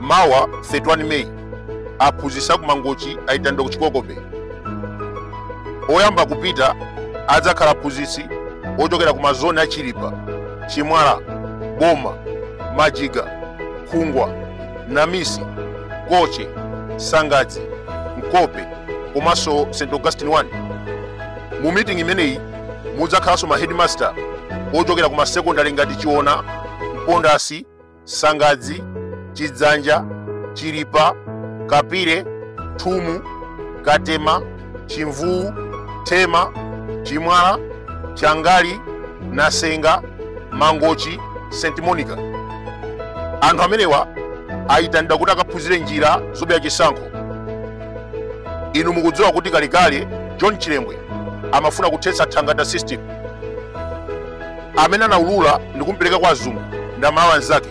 mawa 31 meyi aphunzitsi a ku Mangochi ayitanidwa ku chikoko bay oyamba kupita adzakhala aphunzitsi ochokera ku mazoni a chilipa chimwala boma majiga khungwa namisi koche sangadzi mkope komanso st augustine 1 mu mitingi imeneyi mudzakhalanso ma headmaster ochokera ku masekondari ngati chiona mpondasi sangadzi chidzanja chilipa kapire thumu katema chimvuu thema chimwala changali nasenga mangochi st monica anthu amenewa ayitanidwa kuti akaphunzire njira zobera chisankho inu mukudziwa kuti kalekale john chilembwe amafuna kuthetsa thangata system amene anaulula ndi kumpereka kwa azungu ndi amalawi anzake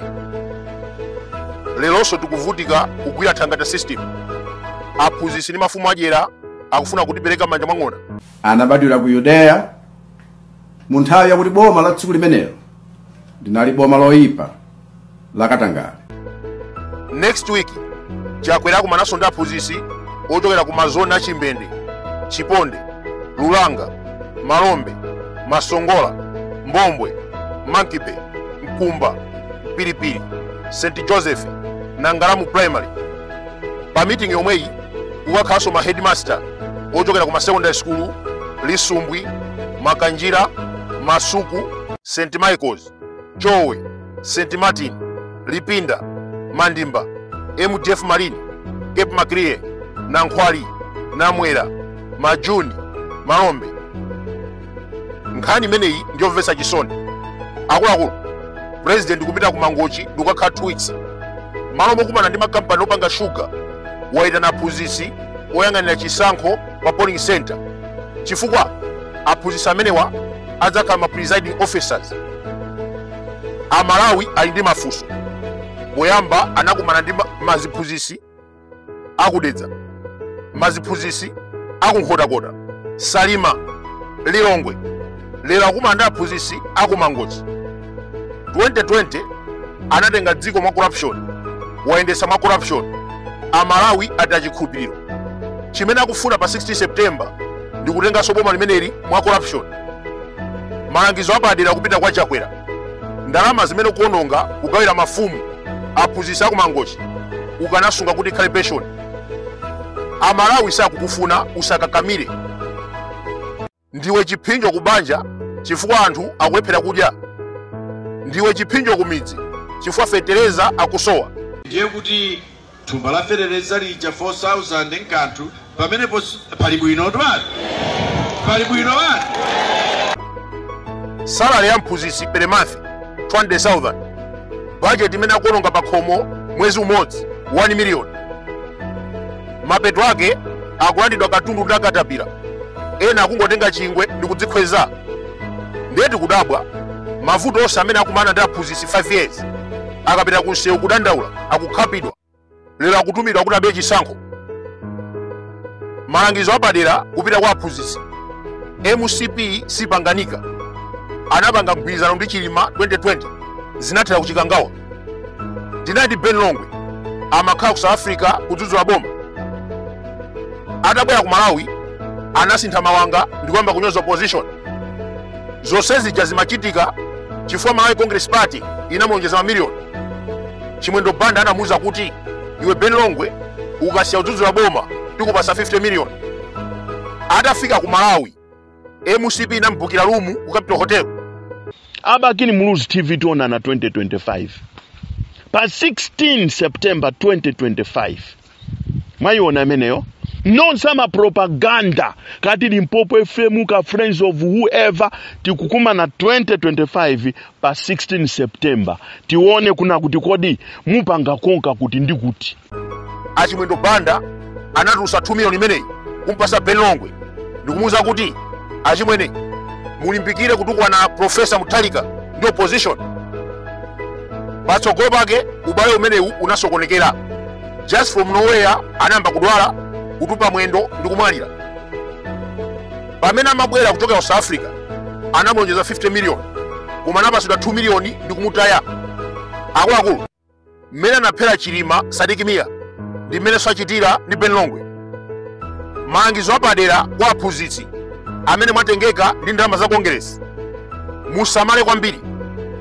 leronso tikuvutika kugwira thangata system aphunzitsi ndi mafumu adyera akufuna kutipereka manja mwa ng'ona anabadwira ku yudeya mu nthawi yakuti boma la tsiku limenelo linali boma loyipa lakatangale next week chakwera akumananso ndi aphunzitsi ochokera ku mazoni a chimbende chiponde lulanga malombe masongola mbombwe mankipe mkumba mpiripiri st joseph na ngalamu primary pa meeting yomweyi kukakhalanso ma headmaster ochokera ku ma secondary school lisumbwi makanjira masuku st michaels chowe st martin lipinda mandimba mdf marine cape maclear nankhwali namwera majuni malombe nkhani imeneyi ndiyomvetsa chisoni akuluakulu president kupita ku mangochi ndikukakhala 2 weeks malo mokumana ndi makampani opanga shuga wayitana aphunzitsi oyang'anira chisankho pa polling center chifukwa aphunzitsi amenewa adzakhala ma presiding officers amalawi ali ndi mafunso poyamba anakumana ndi maziphunzitsi a ku dedza maziphunzitsi a ku nkhotakota salima lilongwe lero akumana ndi aphunzitsi a ku mangochi 2020 anatenga dziko mwa corruption wayendetsa mwa corruption amalawi ataya chikhulupiriro chimene akufuna pa 16 september ndi kutenganso boma limeneli mwa corruption malangizo apadera kupita kwa chakwera ndalama zimene akuononga kugawira mafumu aphunzitsi a ku Mangochi ukanasunga kuti ikhale pension amalawi sakukufuna usakakamire ndiwe chiphinjo ku banja chifukwa anthu akulephera kudya ndiwe chiphinjo ku midzi chifukwa feteleza akusowa ndiye kuti thumba la feteleza lija 4000 nkanthu pamenepo pali bwino twani pali bwino wani salary ya mphunzitsi per month 200,000 budget imene akuwononga pa khomo mwezi umodzi 1 million mapeto ake akulandidwa katundu ndi akatapira ena akungotenga chingwe ndi kudzikhweza ndiye tikudabwa mavuto onse amene akukumana ndi aphunzitsi 5 years akapita ku msewu kudandaula akukhapidwa lero akutumidwa kuti abe chisankho malangizo apadera kupita kwa aphunzitsi mcp siipanganika anapanga mgwirizano ndi chilima 2020 zinathera ku Chikangawa tinali ndi ben longwe amakhala ku south africa kudzudzula boma atabwera ku malawi anasintha mawanga ndi kuyamba kunyoza opposition zonse zija zimachitika chifukwa malawi congress party inamulonjeza mamiliyoni chimwendo banda anamuuza kuti iwe ben longwe ukasiya kudzudzula boma tikupatsa 50 miliyoni atafika ku malawi mcp inamubukira lumu ku capital hotel a Bakili muluzi tv tionana 2025 pa 16 september 2025 mwayiona imeneyo nonse a mapropaganda ka Limpopo fm ka friends of whoever tikukumana 2025 pa 16 september tione kuna kuti kodi mupanga ponka kuti ndi kuti achimwendo banda anatulutsa 2 miliyoni imeneyi kumpatsa ben longwe ndikumuwuza kuti achimwene mulimbikire kutukwana profesa Mutharika ndi opposition patsogolo pake ubale umenewu unasokonekera just from nowhere anayamba kudwala kutupa mwendo ndi kumwalira pamene amabwera kuchokera ku south africa anamulonjeza 50 million koma anapatsidwa 2 million ndi kumutaya akuluakulu mmene anaphera chilima Sidik Mia ndi mmenenso achitira ndi ben longwe malangizo apadera kwa aphunzitsi amene mwatengeka ndi ndalama za kongeresi musamale kwambiri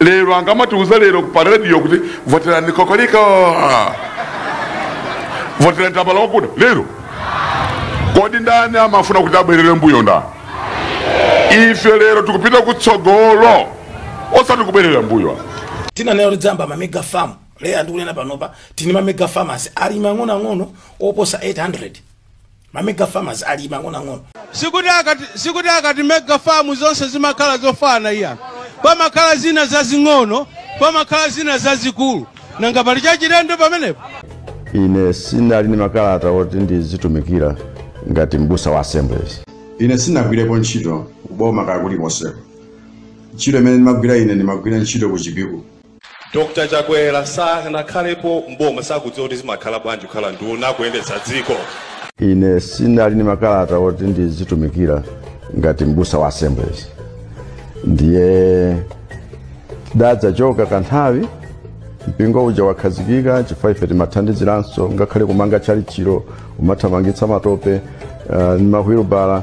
lero angamatiuza lero pa radio kuti voterani kokoliko voterani tambala wakuda lero kodi ndani amafuna kuti abwerere mbuyo ndani ife lero tikupita kutsogolo osati kubwerera mbuyo tinanena kuti tidzayamba ma mega farm lero ndikunena panopa tili ndi ma mega farmers alimi ang'onoang'ono oposa 800 mamega farmers ali mang'onoang'ono sikuti sikuti akati mega farm zonse zimakhala zofana iya pamakhala zina zazing'ono pamakhala zina zazikulu nanga pali chachilendo pamenepo ine sinali ni makalata oti ndizitumikira ngati mbusa wa assemblies ine sinagwirepo ntchito kuboma kaya kulikonseko ntchito imene ndimagwira ine ndimagwira ntchito ku chipiku Dr Chakwera sanakhalepo mboma sakudziwa kuti zimakhala bwanji kukhala nduna kuyendetsa dziko. Ine sinali ni makalata oti ndizitumikira ngati mbusa wa Assemblies, ndiye tidadzachoka kanthawi mpingo uja wakhazikika chifukwa ife timathandiziranso ngakhale kumanga tchalichilo umathamangitsa matope ni mahwilubala